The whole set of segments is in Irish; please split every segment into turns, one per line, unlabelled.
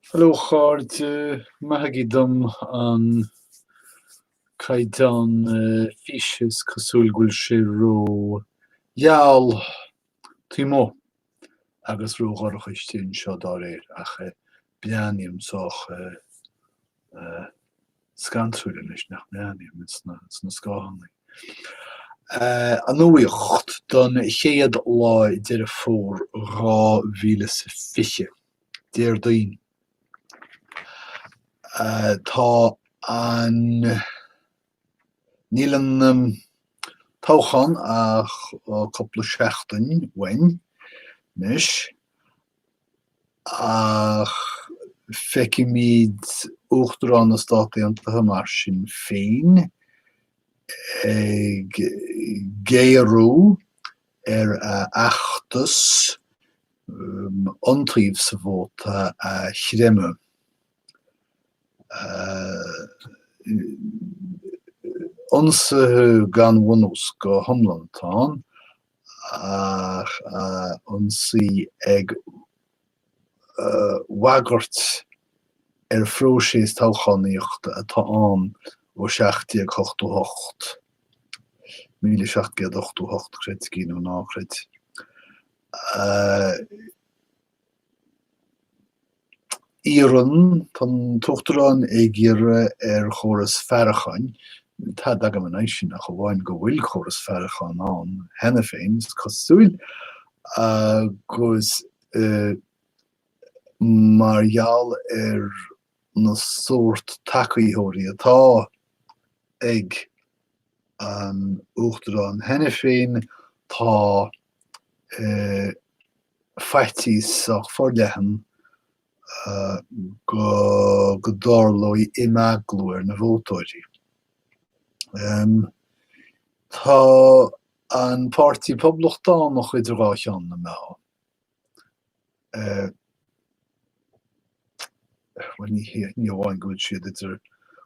Hello a chairde, maithigí dom an caighdeán físe, is cosúil go bhfuil sé ró gheal taobh amuigh agus ró dhorcha istigh anseo dá réir, ach breathnaím sách scantrúil anois nach mbreathnaím, sna scáthannaí. An nuaíocht don chéad lá Deireadh Fómhair 2020, Déardaoin Tá an Níl an. toghchán ach cúpla seachtain uainn anois ach feicimid Uachtarán na Stát Aontaithe mar sin féin ag géarú ar a fheachtas iontaoibh sa vóta a chreimeadh. ionsaithe gan bhunús go hiomlán atá ann ach ionsaí ag bhagairt ar phróiseas toghchánaíochta atá ann ó 1788, 1788 creidigí nó ná creid. Iarrann, tá an tUachtarán ag iarraidh ar chóras faireacháin, níl tada agam in aghaidh sin ach amháin go bhfuil córas faireacháin ann cheana féin, is cosúil, agus mar gheall ar na sórt tacaítheoirí atá ag an Uachtarán cheana féin, tá faitíos sách forleathan go dtarlóidh imeaglú ar na vótóirí. Tá an Páirtí Poblachtánach idir dhá cheann na meá. Bhuel, ní hamháin go bhfuil siad idir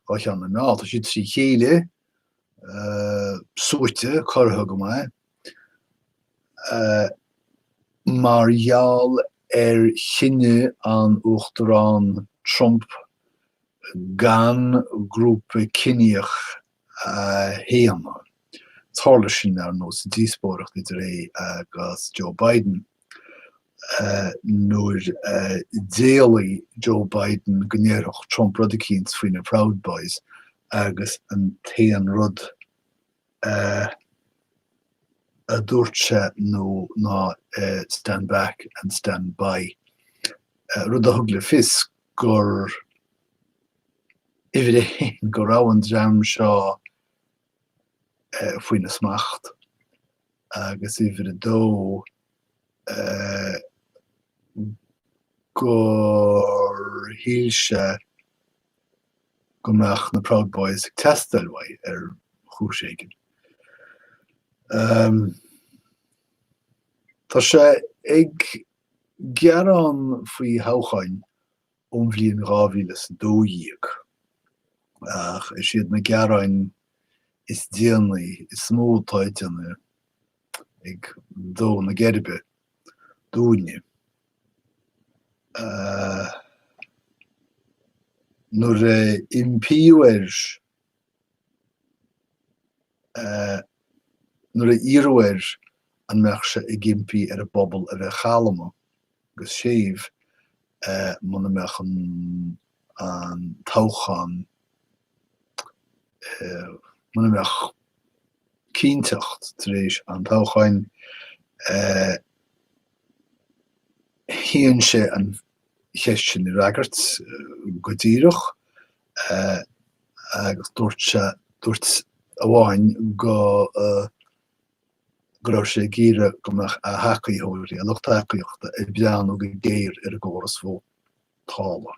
dhá cheann na meá, tá siad trí chéile, suaite, corraithe go maith. mar gheall ar chinneadh an Uachtaráin Trump gan grúpa ciníoch a shéanadh. Tharla sin, ar ndóigh, sa díospóireacht idir é agus Joe Biden, nuair a d'éiligh Joe Biden go ndéarfadh Trump rud eicínt faoi na Proud Boys agus an t-aon rud a dúirt sé ná stand back and stand by, rud a thug le fios gur uimhir a haon go raibh an dream seo faoina smacht agus uimhir a dó gur shíl sé go mbeadh na Proud Boys ag teastáil uaidh ar chúis éigin. Tá sé ag gearán faoi thoghcháin ón bhliain 2012 ach is iad na gearáin is déanaí is mó atá ag déanamh dó na geirbe dúinne. Nuair a impíodh air, nuair a iarradh air an mbeadh sé ag impí ar an bpobal a bheith calma, agus séimh muna mbeadh an toghchán, muna mbeadh cinnteacht tar éis an toghcháin, shéan sé an cheist sin a fhreagairt go díreach agus dúirt sé, dúirt sé amháin go. go raibh sé ag iarraidh go mbeadh a thacaitheoirí, a lucht tacaíochta, ag breathnú go géar ar an gcóras vótála.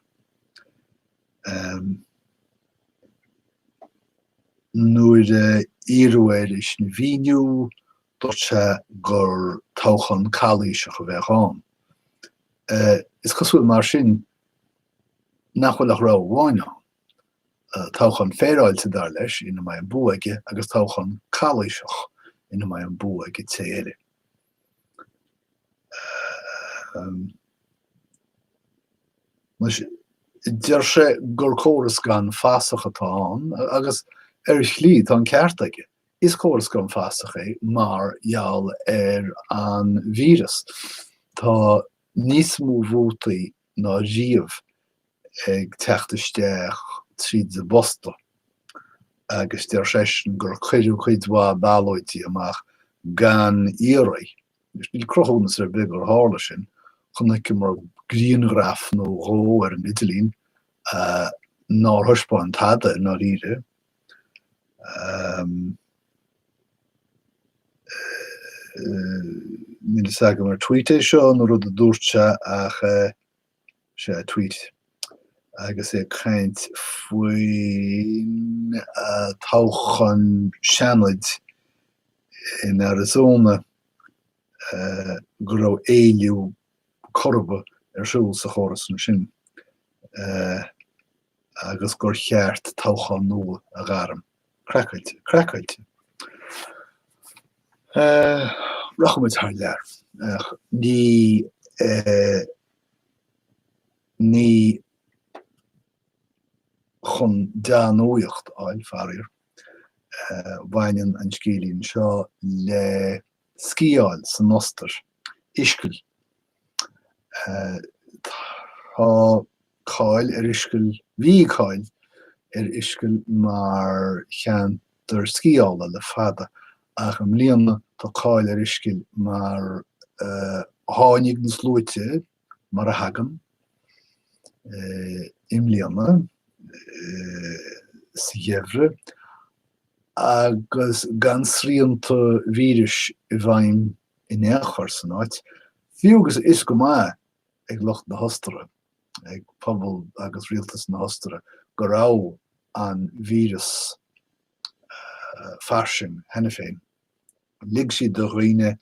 Nuair a iarradh air é sin a mhíniú, dúirt sé gur toghchán calaoiseach a bheadh ann. Is cosúil mar sin nach bhfuil ach rogha amháin ann. toghchán féaráilte, dar leis, ina mbeidh an bua aige agus toghchán calaoiseach ina mbeidh an bua ag an té eile. Deir sé gur córas gan fasach atá ann agus ar shlí tá an ceart aige. Is córas gan fasach é mar gheall ar an víreas. Tá níos mó vótaí ná riamh ag teacht isteach tríd an bposta agus deir seisean gur cuireadh cuid mhaith ballóidí amach gan iarraidh. Anois, níl cruthúnas ar bith gur tharla sin, chonaiceamar grianghraf nó dhó ar an idirlíon nár thaispeáin tada i ndáiríre. Níl a fhios agam ar tweet é seo nó rud a dúirt sé ach sea tweet agus é ag caint faoin toghchán Seanaid in Arizona go raibh éilliú Corrib ar siúl sa chóras ansin. agus gur cheart toghchán nua a ghairm. Craiceáilte. Craiceáilte. Rachaimid thar lear. Ach ní ní chun dea-nuaíocht fháil, faraor. Baineann an scéilín seo le sciáil san Ostair. Ischgl. Tá cáil ar Ischgl, bhí cáil ar Ischgl mar cheantar sciála le fada ach i mbliana tá cáil ar Ischgl mar tháinig na sluaite mar a thagann i mbliana sa gheimhreadh agus gan srianta víris i bhfeidhm in aon chor san áit, fiú agus fios go maith ag lucht na hOstaire, ag pobal agus rialtas na hOstaire go raibh an víreas fairsing cheana féin. Lig siad do dhaoine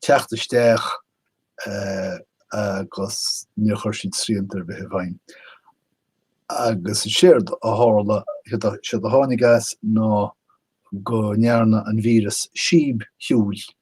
teacht isteach agus níor chuir siad srianta ar bith i bhfeidhm. Agus is éard a tharla, is éard a tháinig as ná go ndearna an víreas síob shiúil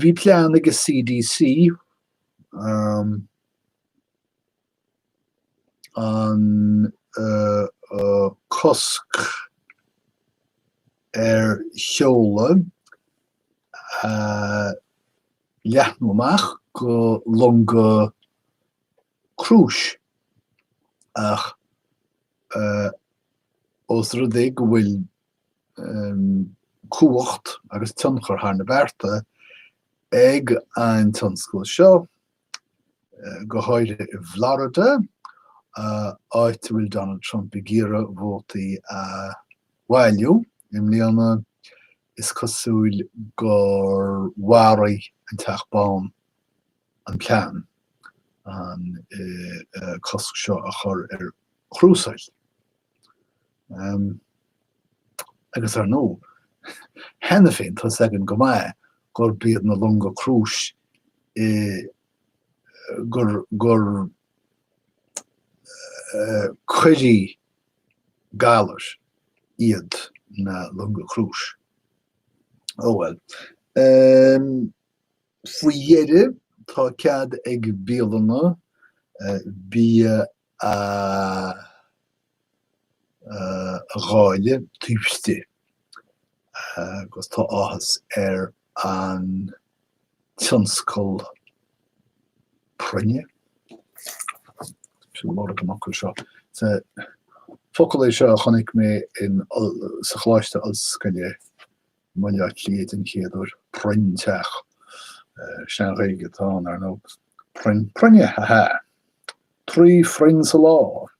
Bhí plean ag an CDC an cosc ar sheoladh a leathnú amach go longa crúis ach ós rud é go bhfuil cumhacht agus tionchar thar na bearta ag an tionscal seo, go háirithe i bhFlorida, áit a bhfuil Donald Trump ag iarraidh vótaí a bhailiú. I mbliana, is cosúil gur mharaigh an Teach Bán an plean an cosc seo a chur ar chrúsáil. Agus ar ndóigh, cheana féin tá a fhios againn go maith gurb iad na longa crúis i gur gur coirí galair iad na longa crúis. Ó bhuel. Faoi dheireadh tá cead ag bialanna bia a dháileadh taobh istigh agus tá áthas ar an tionscal proinne, sin lorg an fhocail seo, sea, focal é seo a chonaic mé in sa Choláiste Ollscoile i mBaile Átha Cliath den chéad uair, proinnteach, Sean-Ghaeilge atá ann, ar ndóigh, proinn, proinne, ha ha! Trí phroinn sa lá!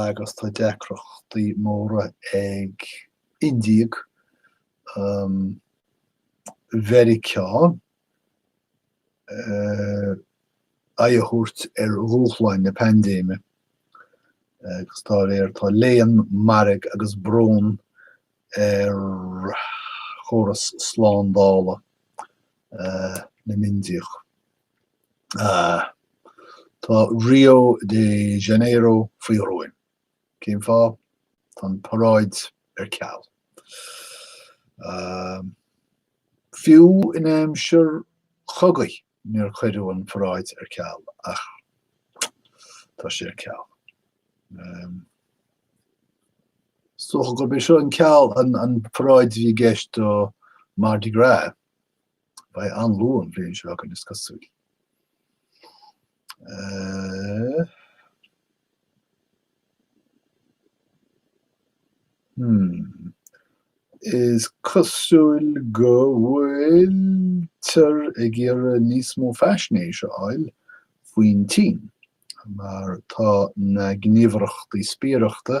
agus tá deacrachtaí móra ag Indiaigh Mheiriceá aghaidh a thabhairt ar dhúshláin na paindéime agus dá réir tá léan, mairg agus brón ar chóras slándála na nIndiach. Tá Rio de Janeiro faoi ghruaim. Cén fáth? Tá an paráid ar ceal. Fiú in aimsir chogaidh níor cuireadh an paráid ar ceal ach tá sé ar ceal. Is dócha gurb é seo an ceal, an paráid a bhí i gceist do Mardi Gras Beidh an-lú an bhliain seo againn is cosúil. Uh, Hmm. Is cosúil go bhfuiltear ag iarraidh níos mó faisnéis a fháil faoin tSín, mar tá na gníomhaireachtaí spiaireachta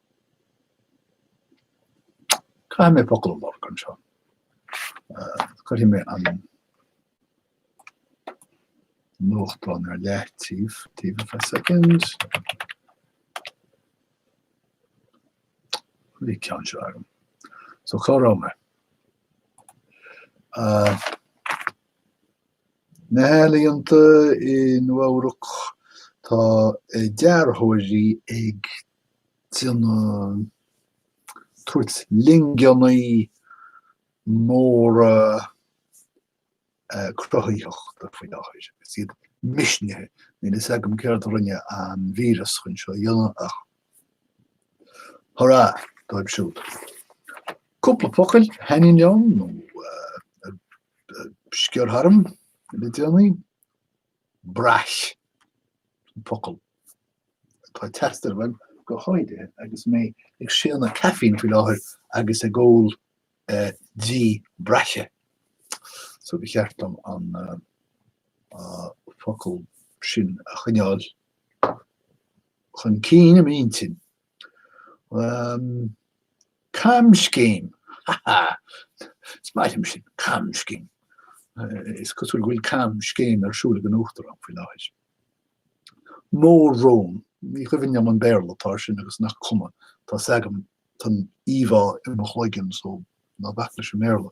Caithfidh mé focal a amharc anseo. Cuirfidh mé an nuachtán ar leataobh taobh for a second. Bhí an ceann seo agam. So cá raibh mé? Na healaíonta i Nua-Eabhrac, tá dearthóirí ag déanamh, tabhairt lingeannaí móra cruthaitheachta faoi láthair agus iad misnithe. Níl fhios agam céard a rinne an víreas chun seo a dhéanamh ach hurrah dóibh siúd. Cúpla focail a thaitníonn liom nó a sciorr tharm le déanaí. Braich, an focal atá ag teastáil uaim go háirithe agus mé ag séanadh caffeine faoi láthair agus ag ól dí braiche, so ba cheart dom an focal sin a choinneáil chun cinn i m'intinn. Um, camscéim! Ha ha! Is maith liom sin, camscéim. Is cosúil go bhfuil camscéim ar siúl ag an Uachtarán faoi láthair. Mór-rón, ní chuimhin liom an Béarla atá ar sin agus nach cuma, tá fhios agam, tá an íomhá i mo chloigeann so ná bac leis an mBéarla.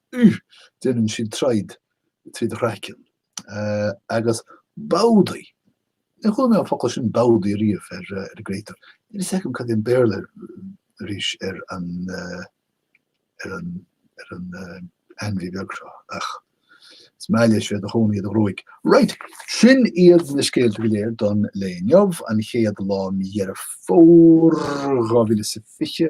Ugh! Déanann siad treaghd trí do chraiceann. Agus bódaí! Níor chuala mé an focal sin bódaí ariamh ar an gcréatúr. Níl fhios agam cad é an Béarla air arís ar an ainmhí beag seo ach is maith leis bheith ina chónaí i do ghruaig. Right! Sin iad na scéalta go léir don lae inniu, an chéad lá Mí Dheireadh Fómhair, 2020.